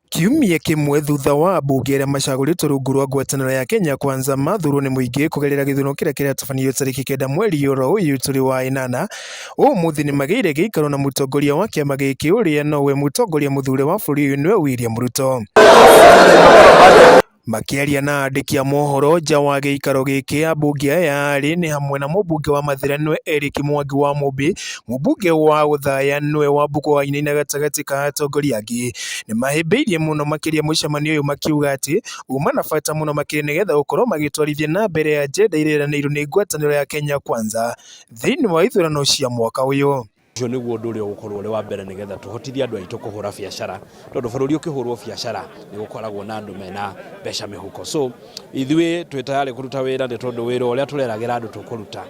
Kiumia kĩmwe thutha wa ambunge arĩa macagũrĩtwo rungu rwa ngwatanĩro ya Kenya Kwanza mathurwo nĩ mũingĩ kũgerera gĩthurano kĩrĩa kĩratabanirio tarĩki kenda mweri oro ũyũ tũrĩ wa ĩnana, ũmũthĩ nĩ magĩire gĩikaro na mũtongoria wa kĩama gĩkĩ ũrĩa nowe mũtongoria mũthure wa bũrũri ũyũ nĩwe William Ruto. Makĩaria na andĩki a mohoro nja wa gĩikaro gĩkĩ, ambunge aya erĩ nĩ hamwe na mũmbunge wa Mathĩra nĩwe Eric Mwangi wa Mũmbĩ, mũmbunge wa Othaya nĩwe Wambũkũ Wainaina gatagatĩ ka atongoria angĩ. Nĩ mahĩmbĩirie mũno makĩria mũcemanio ũyũ makiuga atĩ uma na bata mũno makĩria nĩgetha gũkorwo magĩtwarithia na mbere agenda ĩrĩa ĩranĩirwo nĩ ngwatanĩro ya Kenya Kwanza thĩiniĩ wa ithurano cia mwaka ũyũ. Ũcio nĩguo ũndũ ũrĩa ũgũkorwo ũrĩ wa mbere nĩgetha tũhotithie andũ aitũ kũhũra biacara tondũ bũrũri ũkĩhũrwo biacara nĩ gũkoragwo na andũ mena mbeca mĩhuko so ithuĩ twĩ tayarĩ kũruta wĩra nĩ tondũ wĩra ũrĩa tũreragĩra andũ tũkũruta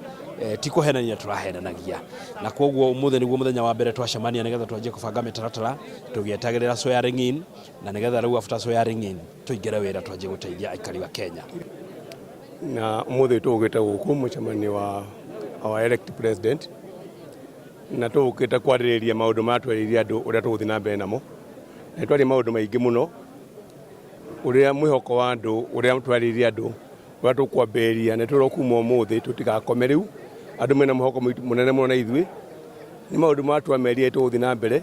eh, ti kũhenania tũrahenanagia na koguo ũmũthĩ nĩguo mũthenya wa mbere twacemania nĩgetha twanjie kũbanga mĩtaratara tũgĩetagĩrĩra swearing in na nĩgetha rĩu after swearing in tũingĩre wĩra twanjie gũteithia aikari wa Kenya. Na ũmũthĩ tũgũkĩte gũkũ mũcemanio wa our elect president na tũgũkĩte kwarĩrĩria maũndũ marĩa twerĩire andũ ũrĩa tũgũthiĩ na mbere namo na twaria maũndũ maingĩ mũno ũrĩa mwĩhoko wa andũ ũrĩa twarĩire andũ ũrĩa tũkwambĩrĩria na tũrĩa kuma ũmũthĩ tũtigakome rĩu andũ mena mwĩhoko mũnene mũno na ithuĩ nĩ maũndũ marĩa twamerire tũgũthiĩ na mbere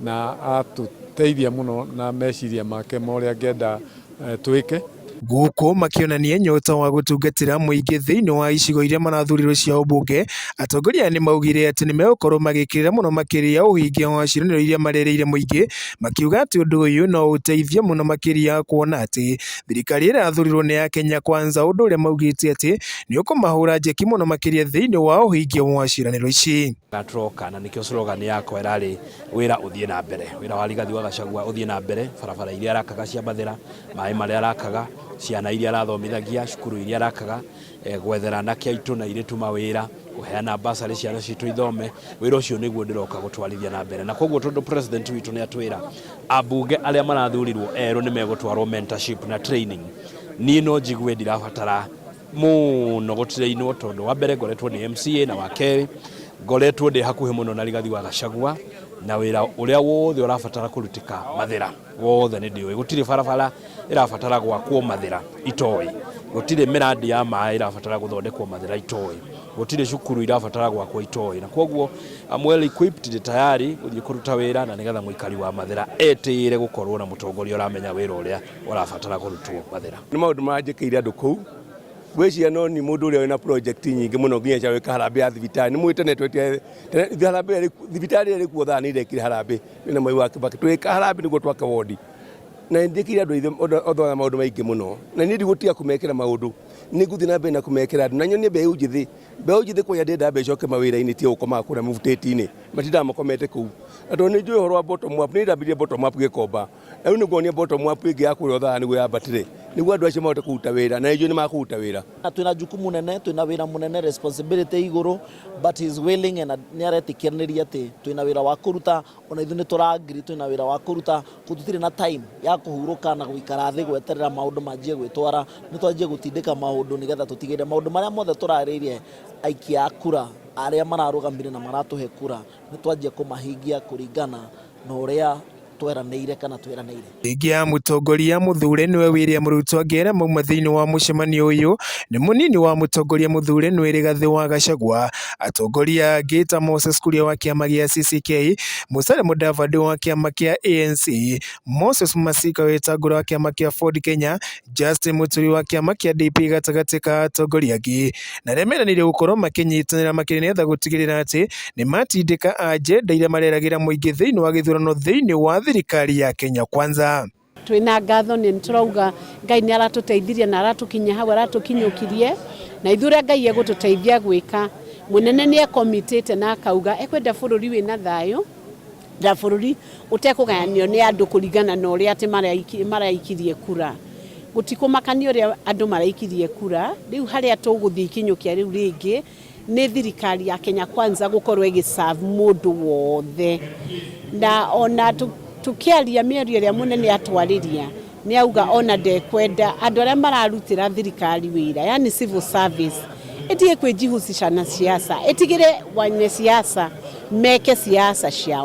Na atũteithia mũno na meciria make ma ũrĩa angĩenda twĩke. Gũkũ makĩonania nyota wa gũtungatĩra mũingĩ thĩinĩ wa icigo iria marathurirwo cia ũmbunge, atongoria aya nĩ maugire atĩ nĩ megũkorwo magĩkĩrĩra mũno makĩria ũhingia wa ciĩranĩro iria marerĩire mũingĩ, makiuga atĩ ũndũ ũyũ no ũteithie mũno makĩria kuona atĩ thirikari ĩrĩa ĩrathurirwo nĩ ya Kenya Kwanza, ũndũ ũrĩa maugĩte atĩ nĩ ũkũmahũra njeki mũno makĩria thĩinĩ wa ũhingia wa ciĩranĩro ici. na tũroka na nĩkĩo slogan yakwa ĩrarĩ wĩra ũthiĩ na mbere wĩra wa rigathi wa gacagua ũthiĩ na mbere barabara iria arakaga cia mathĩra maĩ marĩa arakaga ciana iria arathomithagia cukuru iria arakaga eh, gwethera anake aitũ na airĩtu mawĩra kũheana basarĩ ciana citũ ithome wĩra ũcio nĩguo ndĩroka gũtwarithia na mbere na koguo tondũ president witũ nĩ atwĩra ambunge arĩa marathurirwo erũ nĩ megũtwarwo mentorship na training niĩ no njigue ndirabatara mũno gũtirainwo tondũ wa mbere ngoretwo ndĩ MCA na wa kerĩ ngoretwo ndĩ hakuhĩ mũno na Rigathi wa Gachagua na wĩra ũrĩa wothe ũrabatara kũrutĩka mathĩra wothe nĩ ndĩũĩ gũtirĩ barabara ĩrabatara gwakwo mathĩra itoĩ gũtirĩ mĩrandi ya maĩ ĩrabatara gũthondekwo mathĩra itoĩ gũtirĩ cukuru irabatara gwakwo itoĩ na kwoguo I'm well equipped ndĩ tayari gũthiĩ kũruta wĩra na nĩgetha mũikari wa mathĩra etĩĩre gũkorwo na mũtongoria ũramenya wĩra ũrĩa ũrabatara kũrutwo mathĩra. Nĩ maũndũ maranjĩkĩire andũ kũu gwĩciria no ni mũndũ ũrĩa wĩna project nyingĩ mũno nginya cia gwĩka harambĩ ya thibitarĩ nĩ mwĩte nĩ twetire harambĩ thibitarĩ ĩrĩa ĩrĩkuo thaa nĩ irekire harambĩ nĩ na mwai wa kĩbakĩ twĩka harambĩ nĩguo twake wondi na ndĩkire andũ aithe othe na maũndũ maingĩ mũno na niĩ ndigũtiga kũmekĩra maũndũ nĩ ngũthiĩ na mbere na kũmekĩra andũ na nyonie mbeũ njĩthĩ mbeũ njĩthĩ kwanja ndĩrenda mbeũ icoke mawĩra-inĩ tiga gũkomaga kũrĩa mũbutĩti-inĩ matindaga makomete kũu na tondũ nĩ njũĩ ũhoro wa bottom up nĩ ndambĩrĩirie bottom up gĩkomba rĩu nĩ nguonia bottom up ĩngĩ ya kũrĩa ũthara nĩguo yambatire nĩguo andũ acio mahote kũruta wĩra na ijue nĩ makũruta wĩra na twina jukumu nene twina wira munene responsibility iguru but he is willing and ni aretikiranĩria ati twina wira wa kuruta ona ithu ni turangiri twina wira wa kuruta ko tutire na time ya kuhuruka na guikara thi gweterera maundu manjie gwitwara ni twanjie gutindika maundu nigetha tutigire maundu maria mothe turaririe aikia a kura aria mararugamire na maratuhe kura ni twanjie kumahingia kuringana na uria tweranĩire kana tweranĩire. Mbunge ya mũtongoria mũthure nĩwe William Ruto angĩera mauma thĩinĩ wa mũcemanio ũyũ nĩ mũnini wa mũtongoria mũthure nĩwe Rigathi wa Gachagua, atongoria angĩ ta Moses Kuria wa kĩama gĩa CCK, Musalia Mudavadi wa kĩama kĩa ANC, Moses Masika Wetangula wa kĩama kĩa Ford Kenya, Justin Mũturi wa kĩama kĩa DP gatagatĩ ka atongoria angĩ na arĩa meranĩire gũkorwo makĩnyitanĩra makĩria nĩgetha gũtigĩrĩra atĩ nĩ matindĩka ajenda iria mareragĩra mũingĩ thĩinĩ wa gĩthurano thĩinĩ wa thirikari ya Kenya Kwanza. twina ngatho nä tårauga ngai nä aratå teithirie na aratå kinyia hau aratå kinyå kirie na ithuä rä a ngai egå tå teithia gwä ka må nene nä ekomitä te na akauga ekwenda bå rå ri wä na thayå rĩa bũrũri ũtekũgayanio nĩ andũ kũringana na ũrĩa atĩ maraiki- maraikirie kura gũtikũmakania ũrĩa andũ maraikirie kura rĩu harĩa tũgũthiĩ ikinyũkia rĩu rĩngĩ nĩ thirikari ya kenya kwanza gũkorwo ĩgĩserve mũndũ wothe na ona tũ- tũkĩaria mĩario ĩrĩa mũnene atwarĩria Nĩ auga ona ndekwenda andũ arĩa mararutĩra thirikari wĩra, yani civil service, ĩtige kwĩjihusisha na siasa, ĩtigĩre wenye siasa meke siasa ciao.